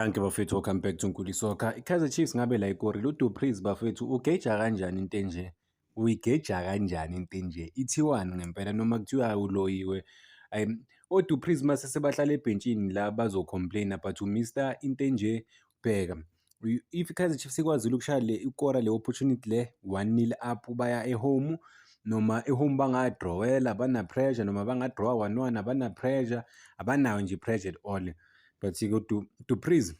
Anke bafethu welcome back to Nkuli Soccer. IKaizer Chiefs ngabe la ikori lo Dupreez bafethu ugeja kanjani into enje? Uyigeja kanjani into enje? Ithiwani ngempela noma kuthiwa uloyiwe. Ay o Dupreez mase sebahlala ebhentshini la bazo complain but u Mr into enje bheka. If iKaizer Chiefs ikwazile ukushaya le ikora le opportunity le 1-0 up baya ehome noma ehome bangadrawela bana pressure noma bangadrawa 1-1 abana pressure abanayo nje pressure at all. but ke du dupriz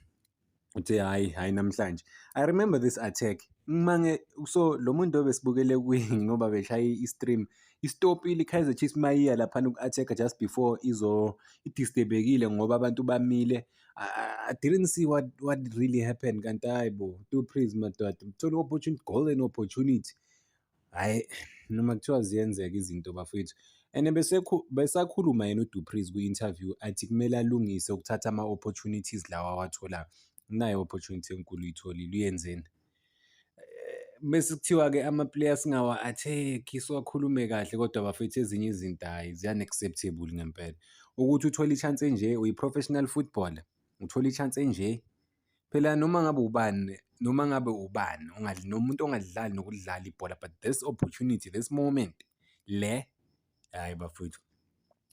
uthe hayi hayi namhlanje i remember this attack ngimange so lo muntu obesibukele kuye ngoba beshaye i-stream istopile i-kaizer chiefs mayiya laphana uku-attack just before izo idisturbekile ngoba abantu bamile I, didn't see what, what really happened kanti hayi bo two praise madoda uthole i-opportunity golden opportunity Hhayi, noma kuthiwa ziyenzeka izinto bafwethu. And besakhuluma yena uDupreez kwi-interview athi kumele alungise ukuthatha ama-opportunities lawa awatholayo. Unayo opportunity enkulu uyitholile, uyenzeni? Bese eh, kuthiwa-ke ama-player singawa-attack-i, siwakhulume kahle kodwa bafethu ezinye izinto hhayi zi-unacceptable ngempela. Ukuthi uthole i-chance enje, uyi-professional footballer, uthole i-chance enje, Phela noma ngabe ubani noma ngabe ubani nomuntu ongadlali nokudlala ibhola but this opportunity this moment le hhayi bafowethu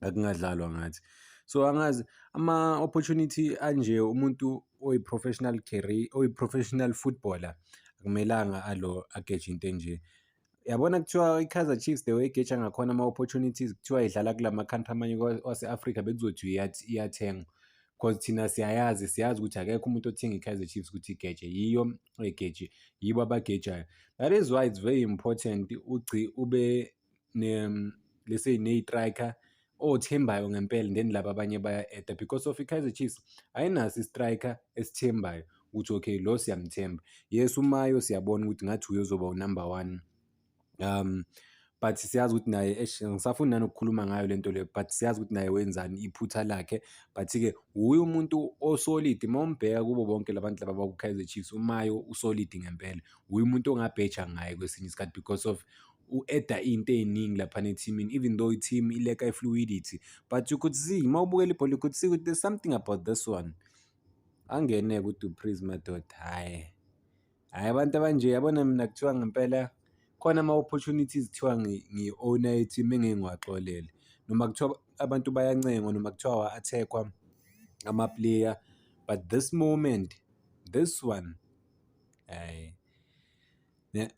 akungadlalwa ngathi. So angazi ama-opportunity anje umuntu oyi-professional career oyi-professional footballer akumelanga alo ageje into enje. yabona kuthiwa i-Kaizer Chiefs the way igetsha ngakhona ama-opportunities kuthiwa idlala kula ma-country amanye wase-Afrika bekuzothi iyathengwa because thina siyayazi siyazi ukuthi akekho umuntu othenga i-Kaizer Chiefs ukuthi igeje yiyo egeje yibo abagejayo that is why it's very important ugci ube ne let's say ne-striker othembayo oh, ngempela and then laba abanye baya-eda because of i-kaizer chiefs ayinaso i-striker esithembayo ukuthi okay lo siyamthemba yes umayo siyabona ukuthi ngathi uyozoba unumber one um but siyazi ukuthi naye eish ngisafuni nanokukhuluma ngayo le nto leyo but siyazi ukuthi naye wenzani iphutha lakhe but-ke wuye umuntu osolidi uma umbheka kubo bonke la bantu laba baku-kaizer chiefs umayo usolidi ngempela wuye umuntu ongabheja ngaye kwesinye isikhathi because of u-eda into ey'ningi laphana ethimini even though i-team ileka i-fluidity but you could see uma ubukela ibhola you could see ukuthi there's something about this one angene-ke udupriz madoda hhayi hhayi abantu abanje yabona mina kuthiwa ngempela khona ama-opportunities kuthiwa ngi-owner i-team engeke ngiwaxolele noma kuthiwa abantu bayancengwa noma kuthiwa wa-attack-wa ama-player but this moment this one hhayi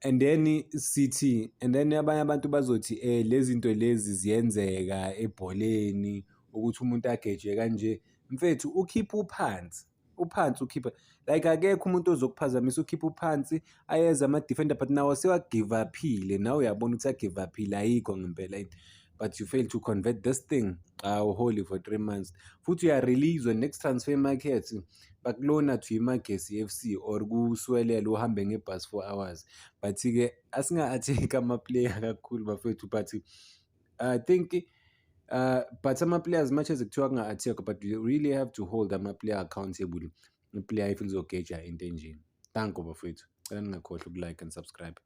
And then sithi and then abanye abantu bazothi eh lezi zinto lezi ziyenzeka ebholeni ukuthi umuntu agejwe kanje. Mfethu ukhipha uphansi, uphansi ukhipha like akekho umuntu ozokuphazamisa ukhipha uphansi ayeza ama-defender but nawo sewa-give up-ile nawe uyabona ukuthi a-give up-ile ayikho ngempela into. but you fail to convert this thing awuholi for three months futhi uyareleaswa next transfer market bakulona to imagesi f c or kuswelela uhambe ngebhasi four hours but-ke asinga-atheki amaplayer kakhulu bafethu but i think uh, but ama-player as much as kuthiwa kunga-athekwa but you really have to hold ama-player accountable iplayer if lizogeja into enjeni thank you bafethu cela ningakhohlwa ukulike and subscribe